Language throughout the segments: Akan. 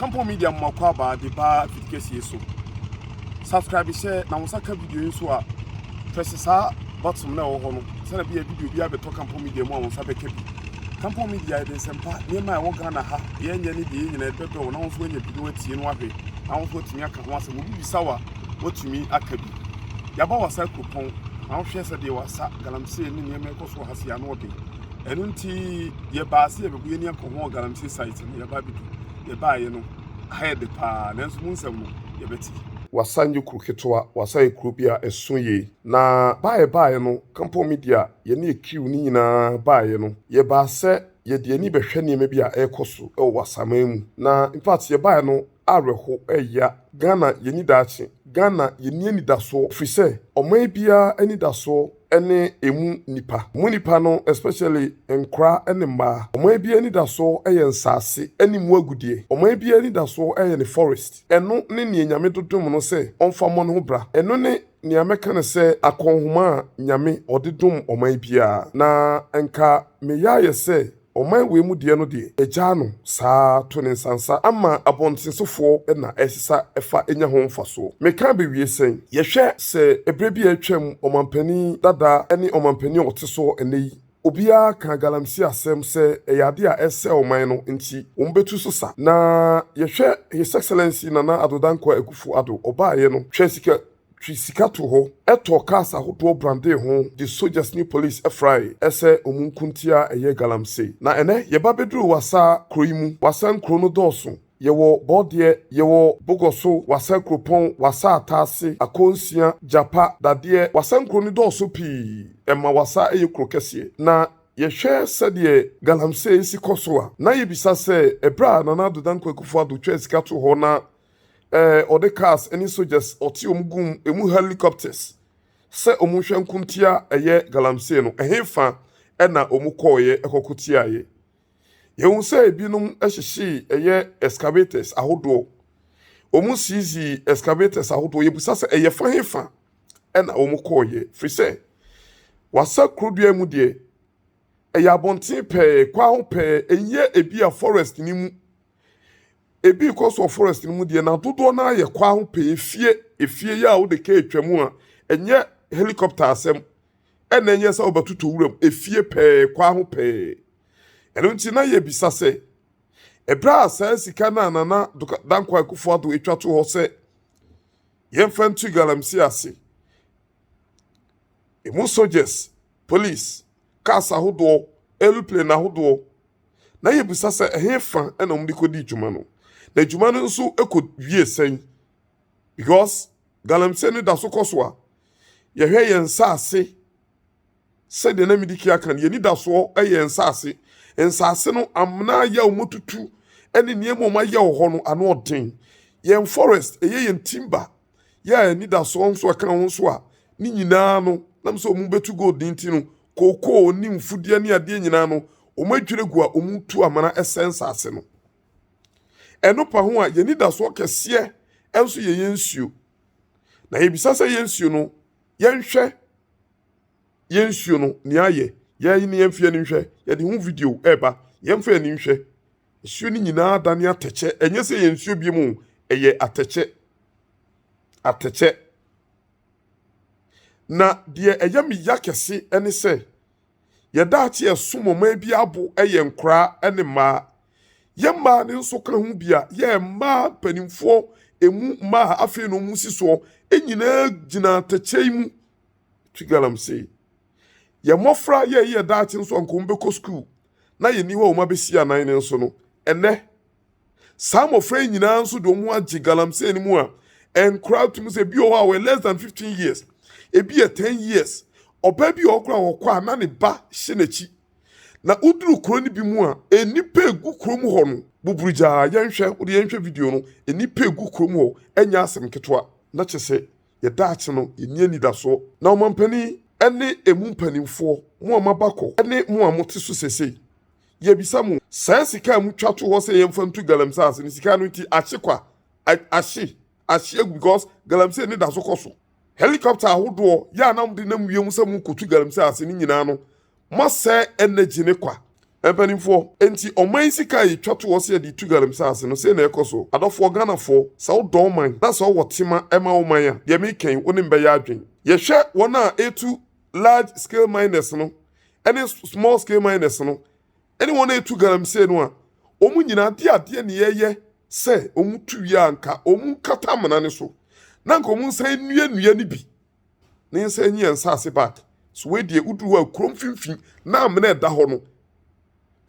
Kampo media moma kɔ aba de ba fiti kɛsie so subscribe hyɛ na wo nsa ka video yi nso a press saa button na ɛwɔ hɔ no sɛnɛ bi a video bi abɛtɔ kampo media mu a wo nsa bɛka bi kampo media yɛde nsɛmpa nneɛma a ɛwɔ ghana ha deɛ ɛnyɛ ne deɛ nyina ɛbɛbrɛ wo na wo nso woanya bi na woatie no ahwɛ na wo nso watumi aka ho asɛm obi bisa wa watumi aka bi yɛaba wasa kuropɔn na wohwɛ sɛ deɛ wasa galamsey ne nneɛma ɛkɔ so wɔ ha si ano ɔden ɛno nti yɛbaa sɛ yɛbɛkɔ yɛni akɔho galamsey site no yɛbaa bɛdu yɛbaeɛ no ha yɛ de paa nanso mu nsɛm no yɛbɛte Wassa nyɛ kuro ketewa, Wassa yɛ kuro bi a ɛso yie. Na baa yɛbaeɛ no, Kampong Media, yɛne Ekiw no nyinaa baeɛ no, yɛbaa sɛ yɛde yɛni bɛhwɛ nneɛma bi a ɛrekɔ so wɔ Wassaman mu. Na infact yɛbaeɛ no, awerɛhow, ɛyea. Ghana, yenni daakye. Ghana, yenni anidasoɔ, efisɛ ɔman biara anidasoɔ ne emu nnipa. Emu nnipa no, especially nkwadaa ne mmaa. Ɔman biara anidasoɔ yɛ nsaase ne mu agudeɛ. Ɔman biara anidasoɔ yɛ ne forest. Ɛno ne nea Nyame dodom no sɛ ɔmfa mmɔ ne ho bra. Ɛno ne nea mɛka no sɛ akɔnhoma a Nyame ɔde dom ɔman biara. Na nka meyɛ ayɛ sɛ Ɔman wei mu deɛ no deɛ agyaa no saa to ne nsansa ama abɔntensofoɔ na ɛsesa fa nya ho mfasoɔ. Meka abɛwie sɛn? Yɛhwɛ sɛ ɛberɛ bi a atwam ɔmanpanin dada ne ɔmanpanin a ɔte soɔ ɛnnɛ yi obiara kaa galamsey asɛm sɛ ɛyɛ adeɛ a ɛresɛe ɔman no nti wɔn bɛtu so sa na yɛhwɛ His Excellency Nana Addo Dankwa Akufo Addo ɔbaeɛ no hwɛ sika twe sika to hɔ, tɔɔ cars ahodoɔ brandee ho de soldiers ne police frae sɛ wɔn nko nti a ɛyɛ galamsey. Na ɛnɛ yɛba bɛduru Wassa kuro yi mu. Wassa nkuro no dɔɔso. Yɛwɔ Bɔɔdeɛ, yɛwɔ Bogɔso, Wassa Kuropɔn, Wassa Ataase, Akonsia, Gyapa, Dadeɛ, Wassa nkuro no dɔɔso pii. Ɛma Wassa yɛ kuro kɛseɛ. Na yɛhwɛ sɛdeɛ galamsey si kɔ so a, na yɛbisa sɛ ɛberɛ a Nana Addo Dankwa Akufo-Addo twaa sika too hɔ na eh, ɔde cars ne soldiers ɔte wɔn gum emu helicopters sɛ wɔn nhwɛ nkontia ɛyɛ galamsey no ɛhefa ɛna wɔn kɔɔyɛ ɛkɔko tiaeɛ yɛhu sɛ ebinom ɛhyehyee ɛyɛ excavators ahodoɔ wɔn siizi excavators ahodoɔ yɛbusa sɛ ɛyɛ fa hefa ɛna wɔn kɔɔyɛ firi sɛ wasa kurodua mu deɛ ɛyɛ abɔnten pɛɛ kwan ho pɛɛ ɛnyɛ ebi a forest ne mu. ebi rekɔ so wɔ forest no mu deɛ na dodoɔ no ara yɛ kwan ho pɛɛ efie efie yɛ a wode kaa atwa mu a ɛnyɛ helicopter asɛm ɛna ɛnyɛ sɛ wobɛtotɔ wuram efie pɛɛ kwan ho pɛɛ ɛno nti na yɛbisa sɛ ɛberɛ a saa sika no a nana dankwa akufo ado atwa to hɔ sɛ yɛmfa nto galamsey ase ɛmu soldiers police cars ahodoɔ aeroplane ahodoɔ na yebisa sɛ ɛhefa na wɔde kɔdii dwuma no, na dwuma no nso kɔwie sɛn? Because galamsey no da so kɔ so a, yɛhwɛ yɛn nsaase sɛdeɛ na medi kia kan, yɛn anidasoɔ yɛ nsaase. Nsaase no, amena ayɛ a wɔtutu ne nneɛma a wɔayɛ wɔ hɔ no, ano ɔden. Yɛn forest, ɛyɛ yɛn timber. yɛɛ anidasoɔ nso ɛka ho nso a, ne nyinaa no, nam sɛ wɔn bɛtu gold ne nti no, kookoo ne mfudeɛ ne adeɛ nyinaa no, wɔn adwiri gu a wɔn tu amena ɛsɛ nsase no. Ɛno pa ho a, yɛn anidasoɔ kɛseɛ nso yɛ yɛn nsuo. Na yɛbisa sɛ yɛn nsuo no, yɛnhwɛ yɛn nsuo no, nea ayɛ, yɛn ne yɛn mfeɛ no nhwɛ, yɛde ho video ɛreba, yɛmfa yɛn ani nhwɛ. Nsuo no nyinaa adane atɛkyɛ. Ɛnyɛ sɛ yɛ nsuo bio mu, ɛyɛ atɛkyɛ. Atɛkyɛ. Na deɛ ɛyɛ me ya kɛse ne sɛ, yɛda akye ɛsom ɔman bi abo yɛ nkoraa ne mmaa. Yɛ mmaa no nso ka ho bi a, yɛ mmaa mpanimfoɔ emu mmaa afei na wɔn si soɔ nyinaa gyina atɛkyɛ yi mu. Twigalam sei. Yɛ mmɔfra yɛ yɛ daakye nso anka wɔn bɛkɔ sukuu. na yenni hɔ a wɔn abesi anan no nso no, ɛnnɛ, saa mmofra yi nyinaa nso de wɔn agye galamsey no mu a nkora tumi sɛ bi wɔ hɔ a wɔyɛ less than 15 years, ebi yɛ 10 years. Ɔbaa bi wɔ hɔ koraa wɔkɔ a na ne ba hyɛ n'akyi. Na woduru kuro no bi mu a, nnipa egu kuro mu hɔ no buburu gyaa. Yɛnhwɛ, wode yɛnhwɛ video no. Nnipa egu kuro mu hɔ, ɛnyɛ asɛm ketewa. Na kyɛ sɛ yɛ daakye no, yɛnni anidasoɔ. Na ɔmampanin ne emu mpanimfoɔ, mo a moaba kɔ ne mo a mote so seesei, yɛbisa mo, saa sika a motwa to hɔ sɛ yɛmfa ntu galamsey ase no, sika no nti ahye kwa? Ahye, ahye agu because galamsey no da so kɔ so. Helicopter ahodoɔ yɛ a na mode nam wiem sɛ morekɔtu galamsey ase no nyinaa no, Moasɛe energy ne kwa. Mpanimfoɔ, enti ɔman yi sika a yɛtwa to hɔ sɛ yɛde retu galamsase no, sei na ɛrekɔ so? Adɔfoɔ Ghanafoɔ, sɛ wodɔ wo man, na sɛ wowɔ tema ma wo man a, deɛ mereka yi, wo ne me bɛyɛ adwene. Yɛhwɛ wɔn a ɛretu large scale miners no ne small scale miners no, ne wɔn a ɛretu galamsey no a, wɔn nyinaa de adeɛ na yɛyɛ sɛ wɔtu wie a, anka wɔnkata amena no so, na anka wɔnsan nnuannua no bi. ne nsa nyi yɛn nsase back so wei deɛ woduru hɔ a kuro mfimfini na amena ɛda hɔ no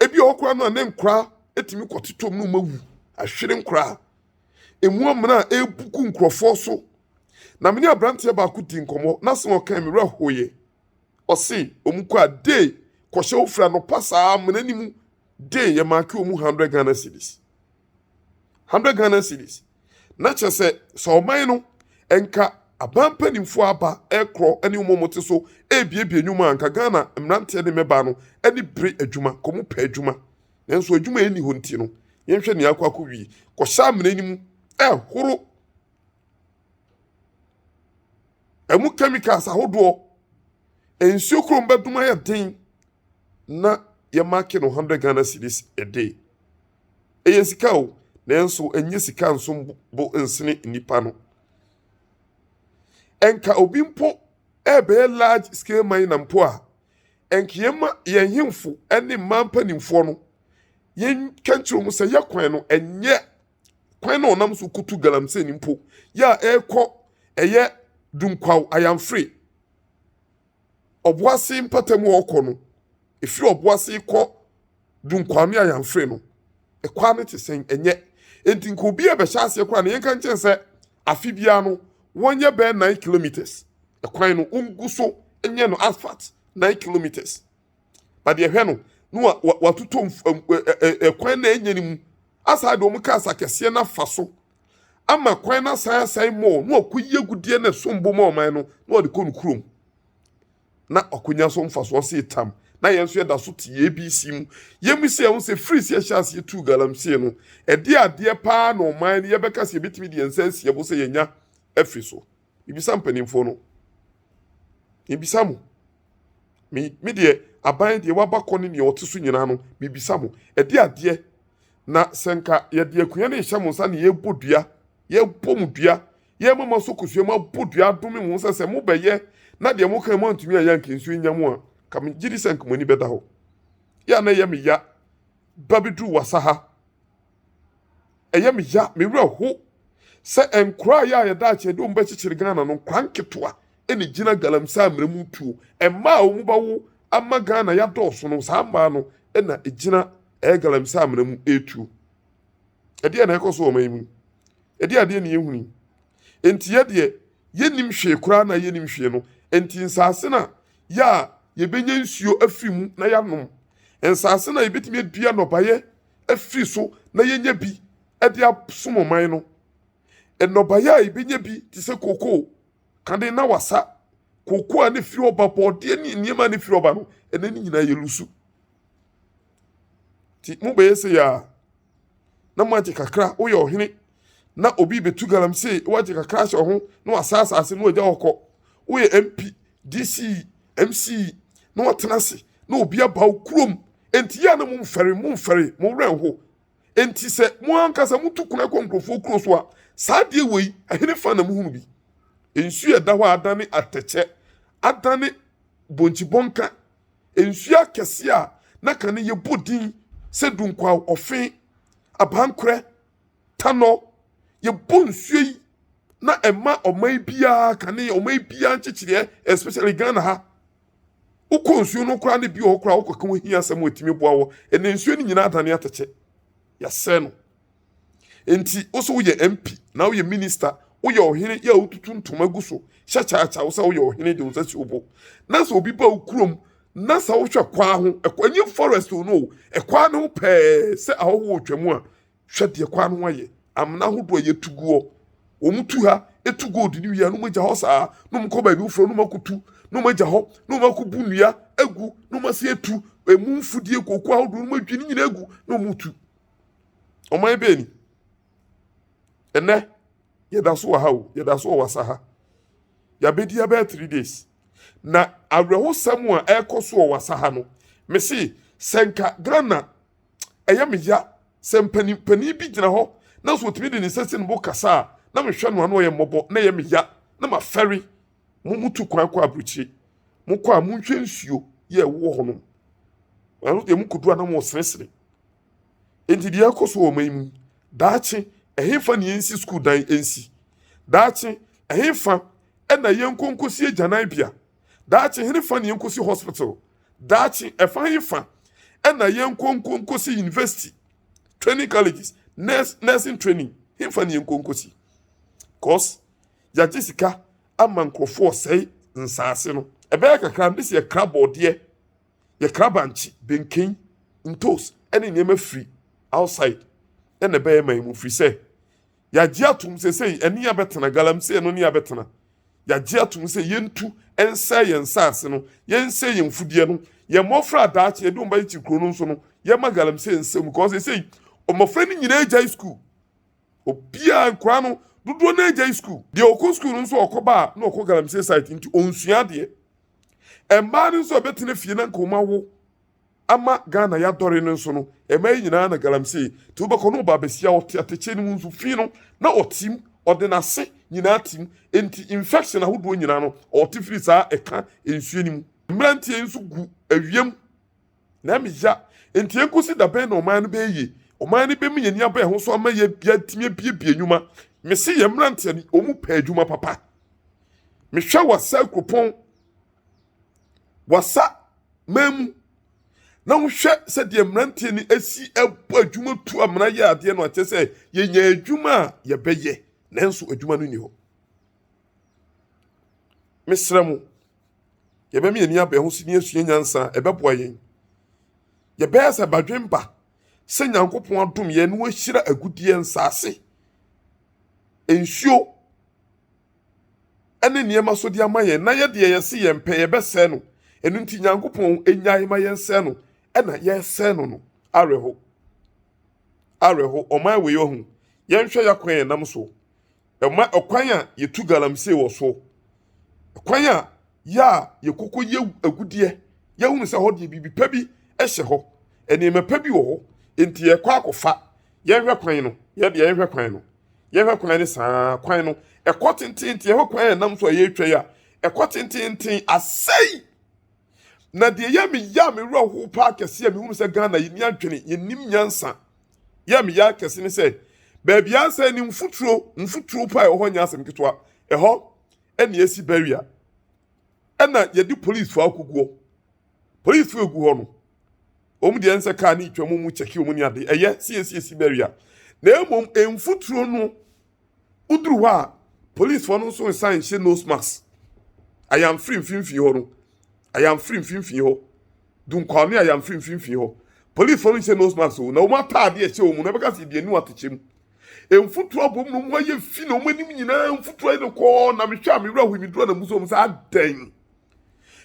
ebi wɔ koraa no a ne nkora etumi kɔtetɔ mu no ma wu ahwere nkora emu amena a ebu gu nkurɔfoɔ so na mene aberanteɛ baako di nkɔmɔ na sɛ ɔkan mi werɛ hoyɛ ɔse wɔn kɔ a day kɔhyɛ ofura no pa saa amena ne mu day yɛ maake wɔn hundred Ghana cedis. 100 Ghana cedis. Na kyerɛ sɛ sɛ ɔman no nka aban mpanimfoɔ aba rekorɔ ne wɔn a wɔte so rebuebue nnwuma a nka Ghana mmeranteɛ ne mmabaa no ani bere adwuma, nka wɔpɛ adwuma. Nanso adwuma a ɛnni hɔ nti no, yɛnhwɛ nea akɔ akɔwie. Kɔhyɛ amena no mu ɛhoro ɛmu chemicals ahodoɔ. Nsuo kurom bɛdum ayɛ den na yɛmaake no 100 Ghana cedis a day. Ɛyɛ sika o, nanso ɛnyɛ sika nso bo nsene nnipa no. Ɛnka obi mpo ɛrebɛyɛ large scale miner mpo a, ɛnka yɛma yɛn hemfo ne mmaa mpanimfoɔ no yɛnka nkyerɛ wɔn sɛ yɛ kwan no ɛnyɛ kwan na ɔnam so kutu galamsey no mpo yɛ a ɛrekɔ ɛyɛ dunkwaw ayamfere ɔboase mpata mu ɔkɔ no, ɛfiri ɔboase kɔ Dunkwame Ayanfre no, ɛkwan no te sɛn? Ɛnyɛ. Enti nka obi a ɛbɛhyɛ aseɛ koraa no, yɛnka nkyɛn sɛ afe biara no, wɔnyɛ bɛyɛ nine kilometres. Ɛkwan no, wɔngu so nyɛ no asphalt nine kilometres. na deɛ hwɛ no na wa wa watotɔ nf ɛm ɛ ɛ ɛ kwan na ɛnyɛ no mu asan de wɔn kaa sa kɛseɛ no afa so ama kwan no asan asan mɔɔ na wakɔyi agudeɛ na ɛsom bo ma ɔman no na wɔde kɔ no kurom na ɔkonya so mfasoɔ se tam na yɛn nso yɛda so te abc mu yɛmu sɛ ɛho sɛ firi sɛ yɛhyɛ aseɛ tuu galamsey no ɛde adeɛ paa na ɔman no yɛbɛka sɛ yɛbɛtumi de yɛn nsa asie bo sɛ yɛnya afi so Mebisa mpanimfoɔ no, mebisa mo, me me deɛ aban deɛ waba kɔ ne deɛ ɔte so nyinaa no, mebisa mo, ɛde adeɛ na sɛ nka yɛde akonnwa no nhyɛ mo nsa na yɛbɔ dua, yɛbɔ mo dua, yɛma mo asɔ kosua mu abɔ dua adome mo sɛ sɛ mobɛyɛ na deɛ moka mo antumi ayɛ anka nsuo nya mo a, ka megye di sɛ nka mo ani bɛda hɔ. Yɛ a na ɛyɛ me ya ba bɛduru wasa ha. ɛyɛ me ya, me werɛ ho sɛ nkoraa yɛ a yɛda akyi yɛde wɔn bɛkyekyere Ghana no, nkoraa nketewa na ɛgyina galamsey amena mu tuo. Mmaa a wɔn bɛwo ama Ghana yi adɔɔso no, saa mmaa no na ɛgyina ɛɛ galamsey amena mu ɛretuo. Ɛdeɛn na ɛrekɔ so wɔ ɔman yi mu yi? Ɛdeɛn adeɛ na yɛhunu yi? Enti yɛ deɛ yɛnnim hwee koraa na yɛnnim hwee no, enti nsaase no a yɛ a yɛbɛnya nsuo afiri mu na yɛanom, nsaase no a yɛbɛtumi adua nnɔbaeɛ afiri so na yɛnya bi de asom ɔman no. Nnɔbaeɛ a yɛbɛnya bi te sɛ kookoo, kane na wasa. Kookoo a ne firi hɔ ba bɔɔdeɛ ne nneɛma a ne firi hɔ ba no, ɛnɛ ne nyinaa yɛlusu. Nti mobɛyɛ sɛ yɛ a na moagye kakra woyɛ ɔhene. na obi bɛtu galamsey na wagye kakra ahyɛ ho na wasa asase na wagya hɔ kɔ woyɛ mp dc mc na watena ase na obi aba wo kurom enti yɛ a na momfɛre momfɛre mo werɛ nho enti sɛ mo ankasa motu kuna kɔ nkurɔfoɔ kuro so a saa adeɛ wei ɛhene fa na mohunu bi nsuo a ɛda hɔ a adane atɛkyɛ adane bonkyibɔnka nsuo akɛseɛ a na ka no yɛbɔ din sɛ dunkwaw ɔfe abankorɛ tanɔ, yɛbɔ nsuo yi na ɛma ɔman biara kane, ɔman biara nkyekyereɛ, especially Ghana ha. Wokɔ nsuo no koraa ne bi wɔ hɔ koraa wokɔka ho hia asɛm a ɛtumi boa wɔ. Ɛnna nsuo no nyinaa adane atɛkyɛ. Yɛasɛe no. Enti wo so woyɛ MP na woyɛ minister, woyɛ ɔhene yɛ a wotutu ntoma gu so hyɛ kyaakyaa wo sɛ woyɛ ɔhene de wo nsa si wo bo. Na sɛ obi ba wo kurom na sɛ wohwɛ kwaa ho, ɛkwaa nyɛ forest o no, ɛkwaa no ho pɛɛ sɛ ahɔho wɔ twam a Hwɛ deɛ kwan no ayɛ, amena ahodoɔ a yɛtu guɔ, wɔn tu ha, tu gold no wie a na wɔn agya hɔ saa, na wɔn kɔ baabi foforɔ na wɔn akɔtu, na wɔn agya hɔ, na wɔn akɔbu nnua agu, na wɔn ase atu emu mfudie kooko ahodoɔ na wɔn adwi ne nyinaa agu na wɔn retu. Ɔman bɛɛ ni. Ɛnɛ, yɛda so wɔ ha o, yɛda so wɔ wasa ha. Yɛabɛdi abɛɛ three days. Na awerɛhosɛm a ɛrekɔ so wɔ wasa ha no, mese sɛ nka Ghana ɛyɛ me ya sɛ mpanin panin bi gyina hɔ nanso ɔtumi de ne nsa si ne bo kasa a na mehwɛ no a na ɔyɛ mmɔbɔ na ɛyɛ me ya na mafɛre mo mutu kwan kɔ aburokyire mokɔ a monhwɛ nsuo yɛ ɛwowɔ hɔ nom ɛno deɛ mokɔduru a na moseresere enti deɛ ɛkɔ so wɔ ɔman mu daakye ɛhefa ne yɛnsi sukuu dan ɛnsi daakye ɛhefa ɛna yɛnkɔ nkɔsi agyanan bea daakye henefa ne yɛnkɔsi hospital daakye ɛfa hefa ɛna yɛnkɔnkɔnkɔsi university training colleges nurse nursing training hefa ne yɛnkɔnkɔsi cause yɛagye sika ama nkurɔfoɔ sɛe nsaase no ɛbɛyɛ kakra ne sɛ yɛkra bɔɔdeɛ yɛkra bankye benken ntos ɛne nneɛma firi outside ɛna ɛbɛyɛ ma yɛ mu firi sɛ Yɛagye atom sɛ sɛ ɛne yɛn bɛtena, galamsey no ne yɛn bɛtena. Yɛagye atom sɛ yɛntu nsɛe yɛn nsase no, yɛnsɛe yɛn mfudeɛ no, yɛn mmɔfra a daakye yɛde wɔn bɛkyekyere kuro no nso no, yɛmma galamsey nsɛe mu. Kɔɔ seesei, mmɔfra no nyinaa agyae sukuu. Obiara, nkwadaa no, dodoɔ no agyae sukuu. Deɛ ɔkɔ sukuu no nso ɔkɔ baa na ɔkɔ galamsey site nti ɔnsua adeɛ. Mmaa no nso a ɛbɛtena fie na nka wɔn awo. ama Ghana yɛadɔre no nso no, ɛma yɛn nyinaa na galamsey. Nti wobɛkɔ na ɔba abɛsi a ɔte atɛkyɛ no mu nso fi no na ɔtim, ɔde n'ase nyinaa tim. Enti infection ahodoɔ nyinaa no ɔte firi saa ɛka nsuo no mu. Mmeranteɛ yi nso gu awia mu na ɛma ya. Enti ɛnkɔsi da bɛn na ɔman no bɛyɛ yie? Ɔman no bɛma yɛn ani aba ɛho so ama yɛatumi abiabia nnwuma. Mese yɛn mmeranteɛ no wɔpɛ adwuma papa. Mehwɛ wɔ Asɛe kuropɔn. wasa man mu na wohwɛ sɛ deɛ mmeranteɛ no asi ɛbɔ adwuma tu amena yɛ adeɛ no akyɛ sɛ yɛnya adwuma a yɛbɛyɛ nanso adwuma no nni hɔ mesrɛ mo yɛbɛma yɛn ani abɛn ho si ne asua nyansa a ɛbɛboa yɛn yɛbɛyɛ sɛ badwemba sɛ nyankopɔn adom yɛn na wahyira agudeɛ nsaase nsuo ne nneɛma so de ama yɛn, na yɛ deɛ yɛse yɛn pɛ yɛbɛsɛe no, ɛno nti Nyankopɔn nnyae ma yɛn sɛe no, ɛna yɛsɛe no no, awerɛho, awerɛho, ɔman wei ɔho, yɛnhwɛ yakwan yɛnam soɔ, ɛma ɛkwan a yɛtu galamsey wɔ soɔ, ɛkwan a. yɛ a yɛkɔkɔ yɛ agudeɛ yɛhunu sɛ hɔ deɛ biribi pa bi hyɛ hɔ nneɛma pa bi wɔ hɔ nti yɛkɔ akɔfa yɛnhwɛ kwan no yɛde yɛnhwɛ kwan no yɛhwɛ kwan no saa kwan no ɛkɔ tententen ɛhɔ kwan yɛn nam so a yɛretwa yi a ɛkɔ tententen asɛe na deɛ yɛ me yɛ a me wura ho paa kɛse a mehunu sɛ ghana yɛni adwene yɛnim nyansa yɛ me yɛ akɛse ne sɛ baabi asɛe ne mfuturo mfuturo paa ɛwɔ hɔ nyɛ asɛm ketewa ɛhɔ ɛna ɛsi barrier ɛna yɛde police fo akoguɔ police fo egu hɔ no wɔn deɛ nsɛ car ne twɛm mu kyɛki wɔn ne ade ɛyɛ siesiesi barrier na mmom mfuturo no woduru hɔ a police fo no nso nsan nhyɛ nose mask ayamfiri mfimfini hɔ no ayamfiri mfimfini hɔ. dunkwaame a yɛamfiri mfimfini hɔ. Polisifo no nhyɛ nose mask o, na wɔn ataade a ɛhyɛ wɔn no, ɛbɛka sɛ ebi anu atekyɛ mu. Mfuturo abom na wɔn ayɛ fi na wɔn anim nyinaa mfuturo ayɛ no kɔɔ, na mehwɛ a me werɛ ahoe, meduru a na musu wɔn sɛ adɛn?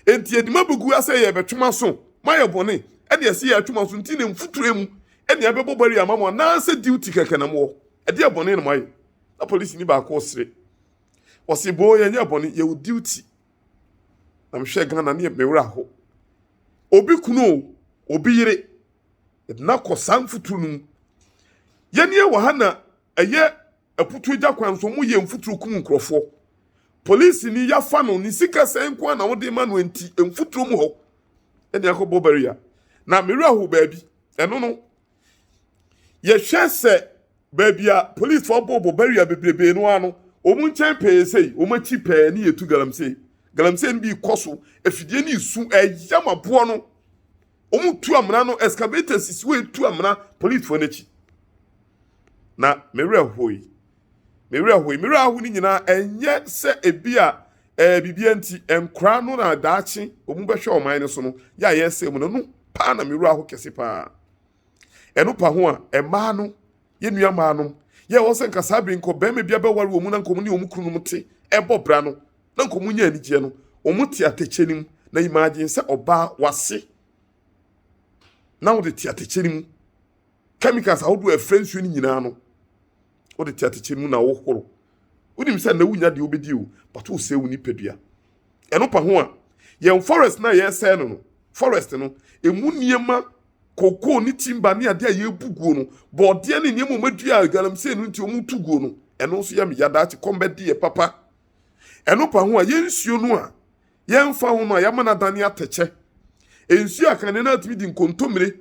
Enti yɛde ma bɛgu asɛ yɛrebɛtwe mo aso, moayɛ bɔne, ɛne ɛsɛ yɛatwe mo aso nti na mfuturo mu ɛne ɛbɛbɔ barrier ama mo anaasɛ duty kɛkɛ na mowɔ? Ɛdeɛ bɔne na moayɛ? Na polisini baako resere. Ɔse boo yɛnyɛɛ bɔne, yɛwɔ duty. na mehwɛɛ Ghana ne me werɛ how. Obi kunu o, obi yere, yɛde no akɔ saa mfuturo no mu. Yɛn nie wɔ ha na ɛyɛ aputuo gya kwan so, wɔyɛ mfuturo kum nkurɔfoɔ. Polisini yɛafa no, ne sika sɛe nko ara na wode ma no enti mfuturo mu hɔ ɛne akɔbɔ barrier. Na me werɛ how baabi, ɛno no yɛhwɛ sɛ baabi a polisfoɔ bɔ bɔ barrier bebrebe no ano wɔn nkyɛn pɛɛ sɛ wɔn akyi pɛɛ ne yɛtu galamsey galamsey no bi kɔ so afidie no esu ɛyam aboɔ no wɔn tu amena no excavator sisi wɔn etu amena polisfoɔ n'akyi na mmerɛ hɔ yi Me werɛ hoe. Me werɛ aho no nyinaa ɛnyɛ sɛ ebi a ɛɛ biribi nti nkora no na daakye wɔn bɛhwɛ ɔman no so no yɛ a yɛsɛ mu no no paa na me werɛ aho kɛse paa ɛno pa ho a mmaa no yɛ nua mmaa no yɛ wɔn sɛ nkasa bere nkɔ bɛrima bi abɛware wɔn mu na nkɔm ne wɔn kunu no te ɛbɔ bra no na nkɔm nyɛ anigyeɛ no wɔn te atɛkyɛ no mu na imagine sɛ ɔbaa wase na wɔde te atɛkyɛ no mu chemicals ahodoɔ a ɛfrɛ nsuo no nyinaa no wode te atɛkyɛ mu na wohoro wonim sɛ na wonya deɛ wobɛdi o but wosɛe wo nipadua ɛno pa ho a yɛn forest no a yɛsɛe no no forest no ɛmu nneɛma kokoo ne timba ne adeɛ a yɛbu guo no bɔɔdeɛ ne nneɛma ɔmadua a galamsey no nti ɔmu tu guo no ɛno nso yɛ me yadaakye kɔmbɛdi yɛ papa ɛno pa ho a yɛn nsuo no a yɛmfa ho no a yɛama no adane atɛkyɛ nsuo a kane no atumi di nkontommire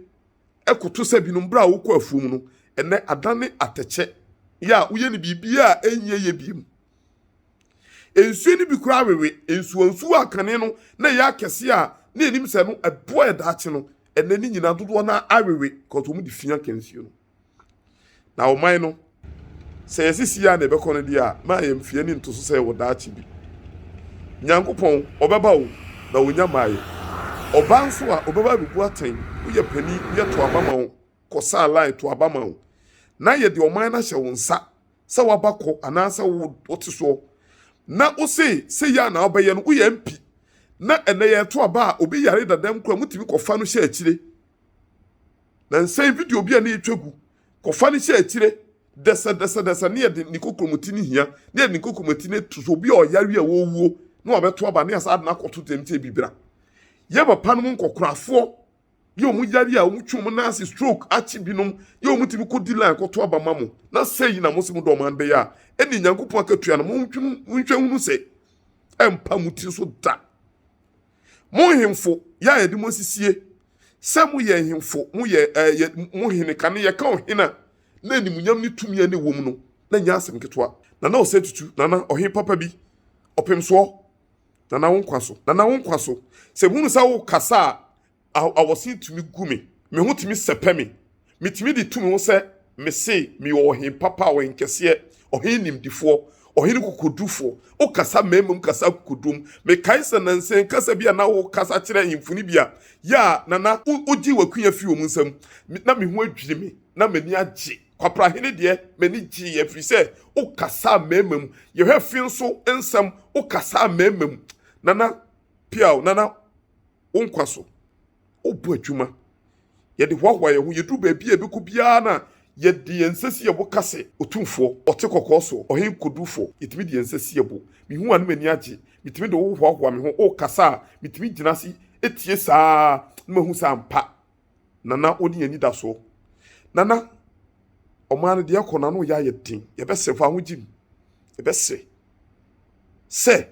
ɛkoto sɛ binom bere a wokɔ afuom no, ɛnnɛ adane atɛkyɛ yɛ a woyɛ no biribiara a ɛnyɛ yɛ bio mu. Nsuo no bi koraa wewe, nsuwansuo a kane no na ɛyɛ akɛseɛ a na yɛnim sɛ ɛno ɛboa yɛ daakye no, ɛnnɛ ne nyinaa dodoɔ no ara awewe because wɔde fia kansuo no. Na ɔman no, sɛ yɛse siaa na ɛbɛkɔ no deɛ a, ma yɛmfie ne ntoso sɛ wɔ daakye bi. Nyankopɔn, ɔbɛba o, na ɔnya mmaeɛ. Ɔbaa nso a, ɔbɛba abɛbu atɛn, woyɛ panin, woyɛ to aba ma wo, kɔ saa line, to aba ma wo. Na yɛde ɔman no ahyɛ wo nsa sɛ waba kɔ anaasɛ wo, wote soɔ. Na wose sɛ yɛ a na wobɛyɛ no, woyɛ MP, na ɛnɛ yɛreto aba a, obi yare dadam koraa motumi kɔfa no hyɛ akyire. Na nsɛe video bi a na yɛtwa gu. Kɔfa no hyɛ akyire dɛsɛdɛsɛdɛsɛ ne yɛde ne kokromoti no hia ne yɛde ne kokromoti no to so obi a ɔyare a ɔwuo na wabɛto aba ne yɛsa ade no akɔto dɛm sɛ bibira. Yɛ papa no mu nkɔkorafoɔ yɛ wɔn yare a wɔtwe wɔn nan ase stroke akye binom yɛ wɔn tumi kɔdi line kɔto aba ma mo na sɛ yi na mo se mo dɔm an bɛyɛ a ɛne Nyankopɔn akatua no monhwɛ hunu sɛ ɛmpa mo tiri so da. Mo nhemfo, yɛ a yɛde mo asisie sɛ moyɛ nhemfo, moyɛ ɛɛ yɛ mo hene. Kane yɛka ɔhene a, na animuonyam ne tumi a na ɛwom no, na ɛnyɛ asɛm ketewa. Nana Ɔsatutu, Nana, ɔhene papa bi, ɔpemsoɔ, Nana wo nkwa so, Nana wo nkwa so. Sɛ mehunu sɛ worekasa a, Awɔsen tumi gu me. Me ho tumi sɛpɛ me. Metumi de tu me ho sɛ mese meyɛ ɔhen papa, ɔhen kɛseɛ, ɔhen nimdifoɔ, ɔhen kokodurufoɔ. Wokasa mmaamum kasa akokodurom. Mekae sɛ nansa yi kasa bi a na wokasa kyerɛ ahemfo no bi a, yɛ a na na wogyee w'akunya firi wɔn nsam. Na me ho adwiri me, na m'ani agye. Kwaprahene deɛ, m'ani gyeeɛ ɛfiri sɛ wokasaa mmaamum. Yɛhwɛ Finn nso nsɛm, wokasaa mmaamum. Nana Piaw, Nana. wo nkwa so. Wobɔ adwuma. Yɛde hoahoa yɛn ho. Yɛduru baabi a yɛbɛkɔ biara no a, yɛde yɛn nsa si yɛn bo ka sɛ, Otumfoɔ, ɔte kɔkɔɔ soɔ, Ɔhene Kodufoɔ. Yɛtumi de yɛn nsa si yɛn bo. Mehu wo a, na m'ani agye. Metumi de wo hoahoa me ho. Wokasa a, metumi gyina ase tie saa ara na mahu sɛ ampa Nana wo ne anidasoɔ. Nana, ɔman no deɛ ɛrekɔ no, ano reyɛ ayɛ den. Yɛbɛsrɛ, fa wo ho gye mu. Yɛbɛsrɛ sɛ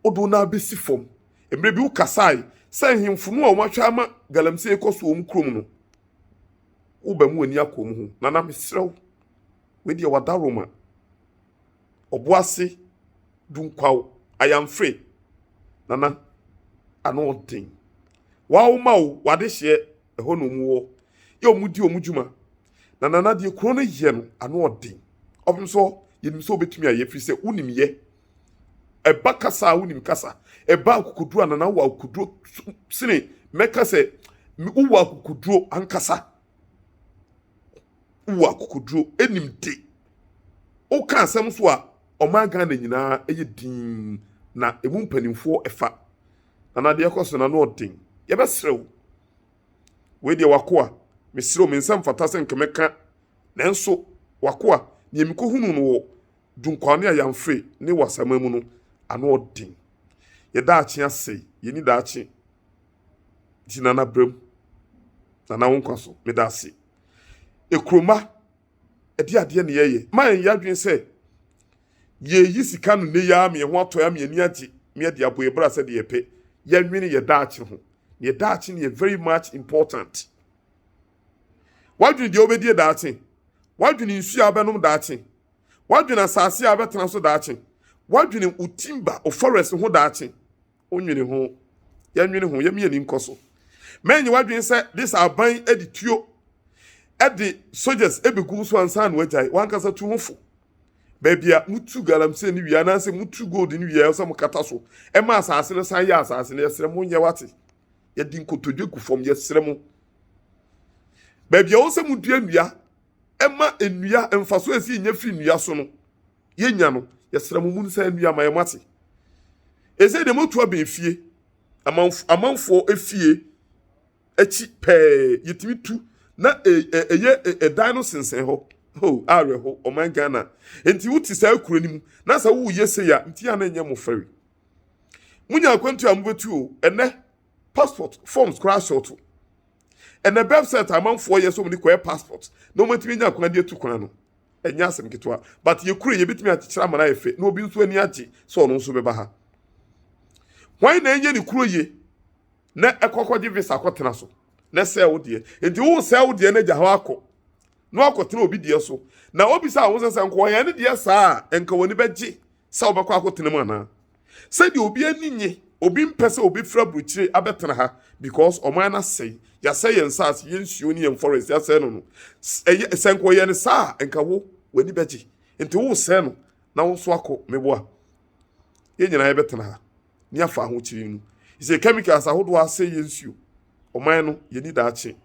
wodow no ara besi fam. Mmere bi wokasae sɛ nhemfo no a wɔahwɛ ama galamsey rekɔ so wɔ wɔn kurom no, woba mu ani akɔ wɔn ho. Nana, mesrɛ wo, wei deɛ wadaroma. Ɔboase, Dunkwaw, Ayamfre, Nana, ano ɔden. Wɔawoma wo, w'adehyeɛ, ɛhɔ na wɔwɔ, yɛ wɔn di wɔn dwuma, Na Nana deɛ kuro no yɛ no ano ɔden ɔpem sɛ yɛnim sɛ wobɛtumi ayɛ firi sɛ wonim yɛ ɛba kasa a wonim kasa ɛba akokoduro a Nana wɔ akokoduro sene mɛka sɛ wowɔ akokoduro ankasa wowɔ akokoduro ɛnim de woka asɛm so a ɔman Ghana nyinaa ɛyɛ din na ɛmu mpanimfoɔ ɛfa Nana deɛ ɛkɔ so no ano ɔden yɛbɛserɛ wo Wei deɛ w'akoa, mesrɛ wo, me nsa mfata sɛ nka mɛka, nanso w'akoa, deɛ mekɔhunuu no wɔ Dunkwani a Yɛamfre ne Wassama mu no, ano ɔden. Yɛ daakye asɛe, yɛnni daakye. Nti Nana bra mu. Nana wo nkwa so, meda ase. Ekuromma, ɛdeɛ adeɛ na yɛyɛ. Mma yɛnyɛ adwene sɛ. Yɛreyi sika no nnɛ yi ara ma yɛn ho atɔ yɛn ama yɛn ani agye ma yɛde abɔ yɛn bra sɛdeɛ yɛpɛ. Yɛnnwene yɛn daakye ho. Na yɛn daakye no yɛ very much important. Woadwene deɛ wobɛdie daakye? Woadwene nsuo a wobɛnom daakye? Woadwene asase a wobɛtena so daakye? Woadwene wo timber, wo forest ho daakye? Wonwene ho, yɛnwene ho, yɛmia ni nkɔ so. Mɛnye w'adwene sɛ de sɛ aban de tuo de soldiers bɛgu wo so ansa na wagyae. W'ankasa tu ho fo. Baabi a motu galamsey no wie anaasɛ motu gold no wie a sɛ mokata so ɛma asase no san yɛ asase no yɛsrɛ mo nyɛ wate. Yɛde nkotodwe gu fam yɛsrɛ mo. Baabi a wɔsɛ modua nnua ɛma nnua mfaso a ɛsi nya fi nnua so no yɛnya no, yɛsrɛ mo monsan nnue ama yɛn moate. Ɛsei deɛ moatu abɛn fie, amanfoɔ efie akyi pɛɛ yɛtumi tu na ɛyɛ ɛdan no sensɛn hɔ ho awerɛho ɔman Ghana nti wote saa kuro no mu na sɛ woyɛ sei a nti a na ɛnyɛ mo fɛre monya akwantu a mobɛtu o ɛnɛ passport forms koraa sɔɔto ɛnɛ bɛbsɛt amanfoɔ yɛ sɛ ɔmde kɔɛ passport na ɔmatumi nya kwan de atu kwan no ɛnyɛ asɛm ketewa but yɛ kure yɛ betumi akyekyere ama no ayɛ fɛ na obi nso ani agye sɛ ɔno nso bɛba ha wɔn na ɛnyɛ ne kuro yie na ɛkɔkɔgye visa akɔtena so na sɛ wo deɛ nti wo sɛ wo deɛ na gya hɔ akɔ na wakɔtena obi deɛ so na obi sɛ ahosɛ sɛ nkɔɔ yɛn ne deɛ saa a nka wɔn ani bɛgye sɛ wɔbɛkɔ akɔtena mu anaa Sɛdeɛ obi ani nye, obi mpɛ sɛ obi firi aburokyire abɛtena ha because ɔman no asɛe, yɛasɛe yɛn nsaase, yɛn nsuo ne yɛn forest yɛasɛe no no. Ɛyɛ, sɛ nka ɔyɛ no saa a, nka wo, w'ani bɛgye. Nti woresɛe no na wo nso akɔ, meboa. Yɛn nyinaa yɛbɛtena ha ne afa ahokyere mu. Sɛ chemicals ahodoɔ asɛe yɛn nsuo, ɔman no yɛni daakye.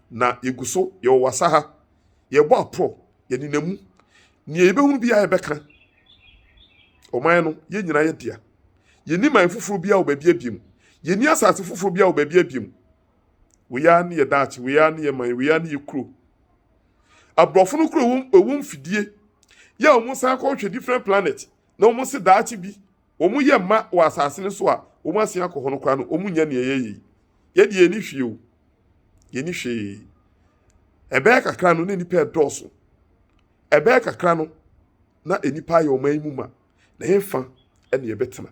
Na yɛgu so, yɛwɔ wasa ha, yɛbɔ aporɔ. Yɛnenam mu. Nea yɛbɛhunu biara yɛbɛka. Ɔman no, yɛn nyinaa yɛ dea. Yɛnni man foforɔ biara wɔ baabi abiem. Yɛnni asase foforɔ biara wɔ baabi abiem. Wei ara ne yɛ daakye, wei ara ne yɛ man, wei ara ne yɛ kuro. Aborɔfo no kuro ɛwɔ mfidie yɛ a wɔsan kɔhwɛ different planet na wɔn se daakye bi wɔn yɛ mma wɔ asase no so a wɔn asen akɔ hɔ no koraa no, wɔn nyɛ nea ɛyɛ yie. Yɛ deɛ yɛni hwee o, yɛni hwee. Ɛbɛyɛ kakra no na nnipa ɛdɔɔso. Ɛbɛyɛ kakra no na nnipa ayɛ ɔman yi mu ma. Na yɛn fa ɛna yɛbɛtena.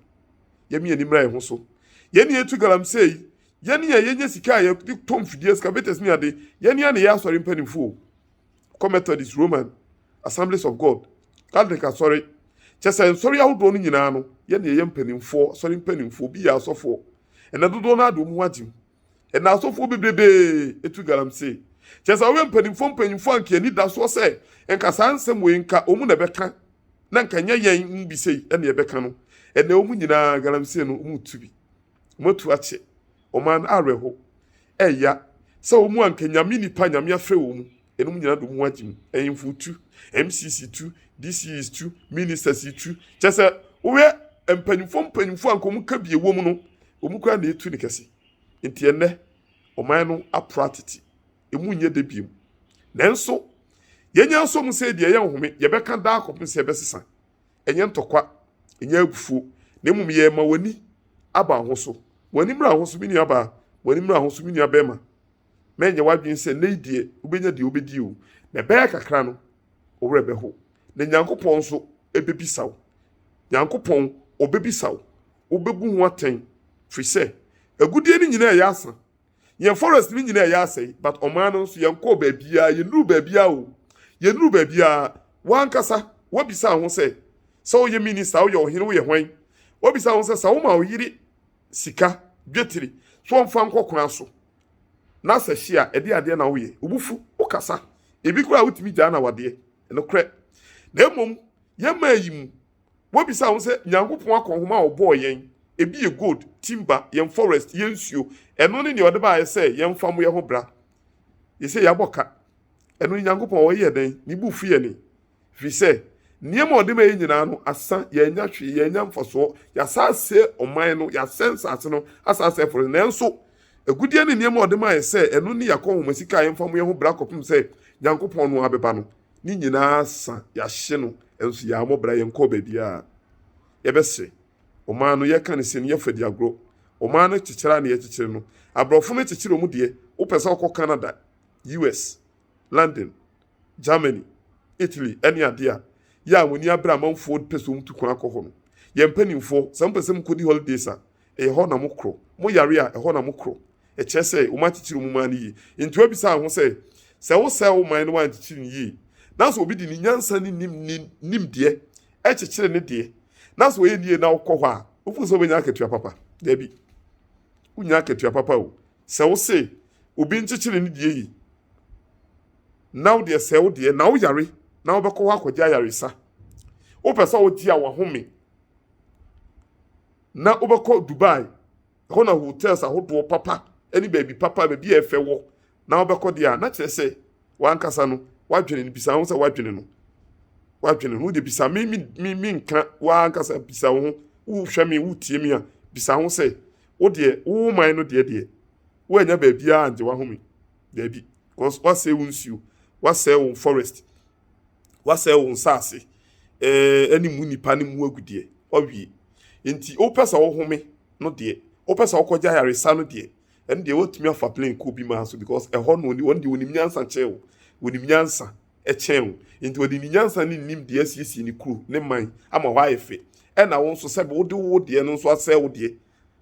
Yɛn yɛn nimra yɛn ho so. Yɛn yɛn tu galamsey. Yɛn yɛn yɛnyɛ sika a yɛde tɔ mfidie excavator ni ade. Yɛn yɛn na yɛ asɔre mpanimfoɔ. Kɔ Methodist, Roman. Assemblies of God, Catholic Asɔre, kyerɛ sɛ nsɔre ahodoɔ no nyinaa no yɛ nea ɛyɛ mpanimfoɔ, asɔre mpanimfoɔ, obi yɛ asɔfoɔ. Ɛnɛ dodoɔ no ara de wɔn ho agye mu. Ɛnɛ asɔfoɔ bebrebee tu galamsey. Kyerɛ sɛ wɔyɛ mpanimfoɔ mpanyimfoɔ a nka anidasoɔ sɛ nka saa nsɛm wei nka wɔn na ɛbɛka na nka nyɛ yɛn mu bi sei na ɛbɛka no. Ɛnɛ wɔn nyinaa galamsey no wɔretu bi. Wɔatu akyɛ. Wɔn ara no awerɛhow. Ɛya sɛ wɔn mu anka Nyame nnipa a Nyame afrɛ wɔn mu, enom nyina dom ho agye mu, Ɛhemfo tu, MCs tu, DCEs tu, Ministers tu, kyerɛ sɛ wohwɛ mpanyimfoɔ mpanyimfoɔ anka wɔn ka bi ɛwɔ mu no, wɔn koraa na etu ne kɛse. Nti ɛnnɛ, ɔman no aporo atete, emu nyɛ dɛ biom. Nanso, yɛnya nso mu sɛ ebia ɛyɛ nhome, yɛbɛka daa kɔpem sɛ ɛbɛsesa. Ɛnyɛ ntɔkwa, ɛnyɛ abufuo, na mmom yɛ ma w'ani aba ho so. W'ani mmra ho so, me nuabaa, w'ani mmra ho so, me nuabarima. Mɛnyɛ w'adwene sɛ nnɛ yi deɛ wobɛnya deɛ wobɛdi o, na ɛbɛyɛ kakra no, wo werɛ bɛho. Na Nyankopɔn nso bɛbisa wo. Nyankopɔn, Ɔbɛbisa wo. Wobɛbu ho atɛn, firi sɛ, agudeɛ no nyinaa yɛ asa, Yɛn forest no nyinaa yɛ asɛe but ɔman no nso yɛn kɔɔ baabiara yɛn nuru baabiara o yɛn nuru baabiara wankasa wabisa ho sɛ sɛ woyɛ minister woyɛ ɔhene woyɛ hwan wabisa ho sɛ sɛ woma ɔyere sika dwetiri so ɔmfa nkɔ kwan so na sɛ hyia ɛde adeɛ na woyɛ obufu wokasa ebi koraa wotumi gyaa na wadeɛ ɛnokorɛ na mmom yɛn maa yi mu Wobisa ho sɛ, Nyankopɔn akɔnhoma a ɔbɔɔ yɛn, ebi yɛ gold, timber, yɛn forest, yɛn nsuo, ɛno ne nea ɔde baeɛ sɛ yɛmfa mmɔ yɛn ho bra? Yese, Yɛabɔ ka. Ɛno ne Nyankopɔn a ɔyɛɛ dɛn? Ne bo fu yɛn? Ɛfiri sɛ, nneɛma a ɔde ma yɛn nyinaa no, asa, yɛannya hwee, yɛannya mfasoɔ, yɛasan asɛe ɔman no, yɛasɛe nsaase no, asan asɛe forest no. Nanso, agudeɛ ne nneɛma a ɔde maa yɛn sɛ ɛno ne yɛn akɔnhoma sika a yɛmfa mmɔ yɛn ho bra kɔpem sɛ Nyankopɔn no ara bɛba no, ne nyinaa sa, yɛahye no, nso yɛammɔ bra, yɛnkɔɔ baabiara. Yɛbɛse, ɔman no, yɛka no sei no, yɛfa di agorɔ. Ɔman no kyekyere a na yɛkyekyere no, aborɔfo no kyekyere wɔn deɛ. Wopɛ sɛ wokɔ Canada, US, London, Germany, Italy ne adeɛ a, yɛ a wɔn ani abere amanfoɔ pɛ sɛ wɔtu kwan kɔ hɔ no. Yɛn mpanimfoɔ, sɛ mopɛ sɛ mokɔdi holidays a, Ɛyɛ hɔ na mokorɔ. Mo yare a, ɛhɔ na mokorɔ. Ɛkyerɛ sɛ, wɔankyekyere mo man no yie. Enti wɔbisaa ho sɛ, Sɛ wosɛe wo man na woankyekyere no yie, na sɛ obi de ne nyansa ne ne nimdeɛ kyekyere ne deɛ, na sɛ ɔyɛ no yie na wokɔ hɔ a, wofoɔ sɛ wobɛnya akatua papa? Dabi, wonnya akatua papa o. Sɛ wose obi nkyekyere ne deɛ yie, na wo deɛ sɛe wo deɛ, na woyare na wobɛkɔ hɔ akɔgye ayaresa, wopɛ sɛ wogye a wahome. na wobɛkɔ Dubai, ɛhɔ na hotels ahodoɔ papa ne baabi papa, baabi a ɛfɛ wɔ, na wobɛkɔ deɛ a, na kyerɛ sɛ w'ankasa no, w'adwene no bisa ho sɛ w'adwene no, w'adwene no, wode bisa me, me, me, me nka w'ankasa bisa wo ho, wohwɛ me, wotie me a, bisa ho sɛ, wo deɛ, wo man no deɛ deɛ, woanya baabiara angye w'ahome, daabi, because woasɛe wo nsuo, woasɛe wo forest, Wasɛe wo nsase eh, ne mu nnipa no mu agudeɛ. Wawie. Nti wopɛ sɛ wohome no deɛ, wopɛ sɛ wokɔgye ayaresa no deɛ, ɛno deɛ woatumi afa plane kɔ obi maa so because ɛhɔ no wɔn deɛ wɔnim nyansa kyɛn wo. Wɔnim nyansa kyɛn wo. Nti wɔde ne nyansa ne nim deɛ asiesie ne kuro, ne man ama hɔ ayɛ fɛ. Ɛna wo nso sɛ wode wo deɛ no nso asɛe wo deɛ.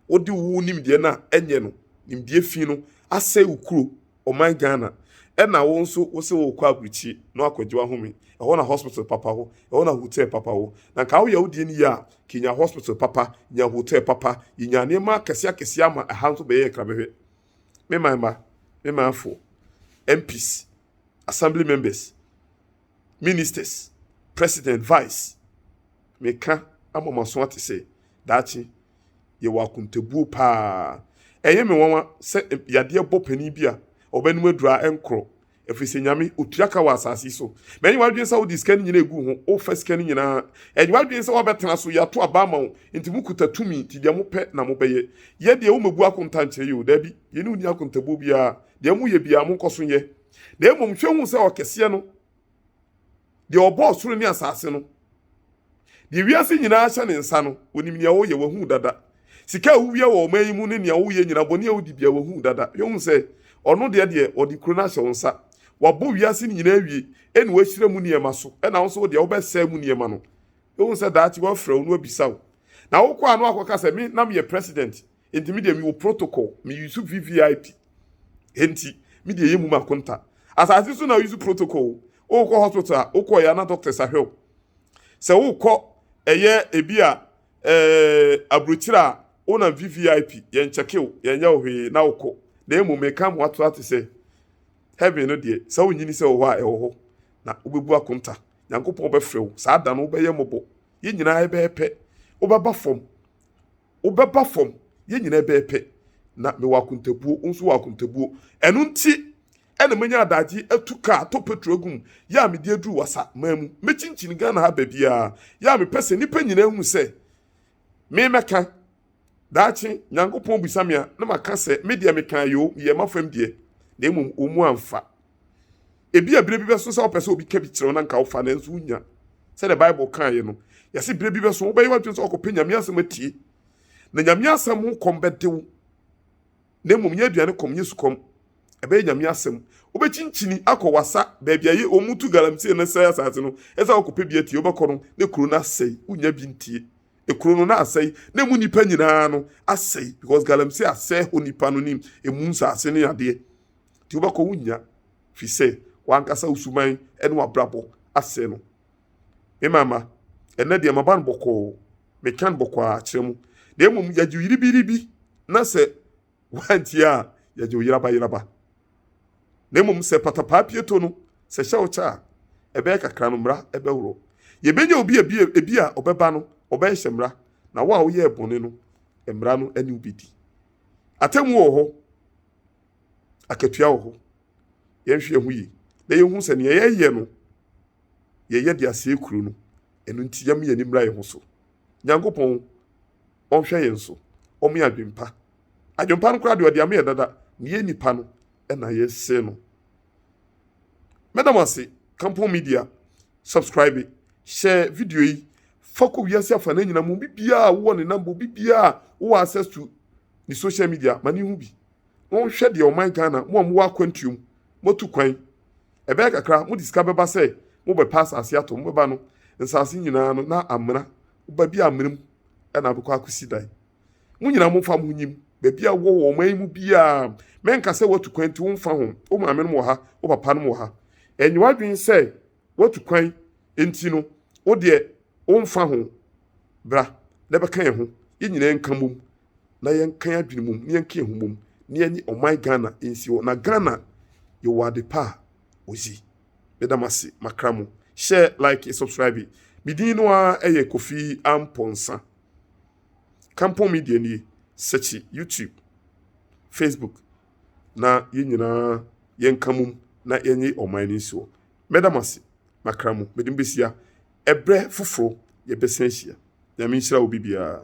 Wode wo nimdeɛ no a ɛnyɛ no, nimdeɛ fi no asɛe wo kuro. ɔman Ghana ɛna wo nso wo se wokɔ aburukyire na wakɔgye w'ahome, ɛhɔ na hospital papa wɔ, ɛhɔ na hotel papa wɔ. Na nka woyɛ wo deɛ no yie a, nka yɛnya hospital papa, yɛnya hotel papa, yɛnya nneɛma akɛseɛ akɛseɛ ama ɛha nso bɛyɛ nkrabɛhwɛ. Me man mma, me manfoɔ, MPs, Assembly members, ministers, president, vice. Meka ama mo aso ate sɛ daakye yɛwɔ akontabuo paa. Ɛyɛ me nwanwa sɛ yadeɛ bɔ panin bi a ɔbɛnom aduru a ɛnkorɔ ɛfiri sɛ nyame ɔtua ka wɔ asase yi so. Mɛnyɛ w'adwene sɛ wode sika no nyinaa ɛgu ho, wofa sika no nyinaa. Ɛnyɛ w'adwene sɛ woabɛtena so, yɛato aba ama wo, nti mokuta tumi, nti deɛ mopɛ na mobɛyɛ. Yɛ deɛ womɛbu akonta nkyerɛ yɛ o, daabi, yɛne wo nni akontabuo biara, deɛ moyɛ biara monkɔ so nyɛ. Na mmom hwɛ hu sɛ ɔkɛseɛ no, deɛ ɔbɔɔ soro ne asase no, deɛ wiase nyinaa hyɛ ne nsa no, ɔnim nea woyɛ, wahu dada. Sika a wowia wɔ ɔman yi mu ne nea woyɛ nyina, bɔne a wodi bia, wahu dada. Hwɛ hu sɛ ɔno deɛ deɛ ɔde kuro no ahyɛ wo nsa. Wabɔ wiase no nyinaa awie, ɛna wahyira mu nneɛma so, ɛna wo nso wo deɛ wobɛsɛe mu nneɛma no. Hwɛ hu sɛ daakye wafrɛ wo na wabisa wo. Na wokɔ a na wakɔka sɛ me na meyɛ president. Enti me deɛ mewɔ protocol, me use VVIP. Enti me deɛ ɛyɛ mu ma konta. Asase so na use protocol o. Wokɔ hospital a, wokɔ yɛ ana doctors ahwɛ o. Sɛ wokɔ ɛyɛ ebi a eh, aburokyire a, wonam VVIP, yɛn kyɛke o, yɛn yɛ o hwee na wokɔ. Na emu meka mo ato ate sɛ, heaven no deɛ, sɛ wonyini sɛ wɔ hɔ a, ɛwɔ hɔ. Na wobɛbu akonta. Nyankopɔn bɛfrɛ wo. Saa da no wobɛyɛ mmɔbɔ. Yɛn nyinaa yɛbɛyɛ pɛ. Wobɛba fam. wobɛba fam yɛn nyinaa bɛyɛ pɛ na mewɔ akontabuo wo nso wɔ akontabuo ɛno nti ɛna manya adagye atu kaa atɔ petro agu mu yɛ a mede aduru wasa man mu mɛkyinkyini Ghana ha baabiara yɛ a mepɛ sɛ nnipa nyinaa hu sɛ me mɛka daakye Nyankopɔn bisa me a na maka sɛ me deɛ mekaa yoo meyɛ mafam deɛ na mmom wɔn mu amfa Ebia bere bi bɛso sɛ wopɛ sɛ obi ka bi kyerɛ wo na nka wofa nanso wonya. Sɛdeɛ Bible kaeɛ no, yɛse bere bi bɛso wobɛyɛ w'adwene sɛ wakɔpɛ Nyame asɛm atie. Na Nyame asɛm ho kɔm bɛde wo. Na mmom nyɛ aduane kɔm, nyɛ sukɔm. Ɛbɛyɛ Nyame asɛm. Wobɛkyinkyini akɔ wasa baabi a yɛ wɔn tu galamsey no sɛe asase no. Ɛsɛ sɛ wokɔpɛ bi atie. Wobɛkɔ no na kuro no asɛe. Wonya bi ntie. Ekuro no na asɛe na emu nnipa nyinaa no asɛe because galamsey asɛe hɔ nnipa no ne emu nsase ne adeɛ. Deɛ wobɛkɔ wonnya, firi sɛ w'ankasa wo suban ne w'abrabɔ asɛe no. Me mama, ɛnnɛ deɛ maba no bɔkɔɔ, meka no bɔkɔɔ ara kyerɛ mo, na mmom yɛgye yiribiribi na sɛ woantie a, yɛgye wo yerabayeraba. Na mmom sɛ patapaa pie to no, sɛ hyɛ wo kyɛ a, ɛbɛyɛ kakra no mmara bɛworɔ. Yɛbɛnya obi a ebi a ɔbɛba no, ɔbɛhyehyɛ mmara, na wo a woyɛɛ bɔne no, mmara no ne wo bɛdi. Atemmuo wɔ hɔ. akatua wɔ hɔ. Yɛnhwɛ yɛn ho yie na yɛnhu sɛ nea yɛyɛ no, yɛyɛ de asɛe kuro no. Ɛno nti, yɛmma yɛn ani mmra yɛn ho so. Nyankopɔn, ɔnhwɛ yɛn so. Ɔma yɛn adwempa. Adwempa no koraa deɛ, ɔde ama yɛn dada. Na yɛn nnipa no na yɛsɛe no. Mɛda mo ase. Kampɔn Media, subscribe, hyɛ video yi, fa kɔ wiase afanan nyinaa mu. Obi biara a wowɔ ne number, obi biara a wowɔ access to ne social media, ma ne hu bi. Monhwɛ deɛ ɔman Ghana, mo a mowɔ akwantuo mu, moatu kwan. Ɛbɛyɛ kakra, mode sika bɛba sɛ mobɛpɛ asase atɔ. Mobɛba no, nsase nyinaa no na amena. Baabi a amena mu na abɛkɔ akɔsi dan. Mo nyinaa momfa mo ho nyim. Baabi a wowɔ wɔ ɔman yi mu biara, mɛnka sɛ woatu kwan nti womfa ho. Wo maame nom wɔ ha, wo papa nom wɔ ha. Ɛnyɛ w'adwene sɛ. Woatu kwan nti no, wo deɛ womfa ho. Bra na bɛka yɛn ho, yɛn nyinaa nka mmom na yɛnka yɛn adwene mmom na yɛnka yɛn ho mmom na yɛnye ɔman Ghana nsi hɔ. Na Ghana yɛwɔ ade pa a wɔsi. Meda mo ase makra mo. Share, like, subscribe. Me din no ara yɛ Kofi Amponsah. Kampong Media nie. Sɛkyi YouTube, Facebook na yɛn nyinaa yɛnka mmom na yɛnye ɔman no nsi hɔ. Mɛda mo ase, makra mo, mede mo behyia. Ɛberɛ foforɔ yɛbɛsan ahyia. Nyame nhyira obi biara.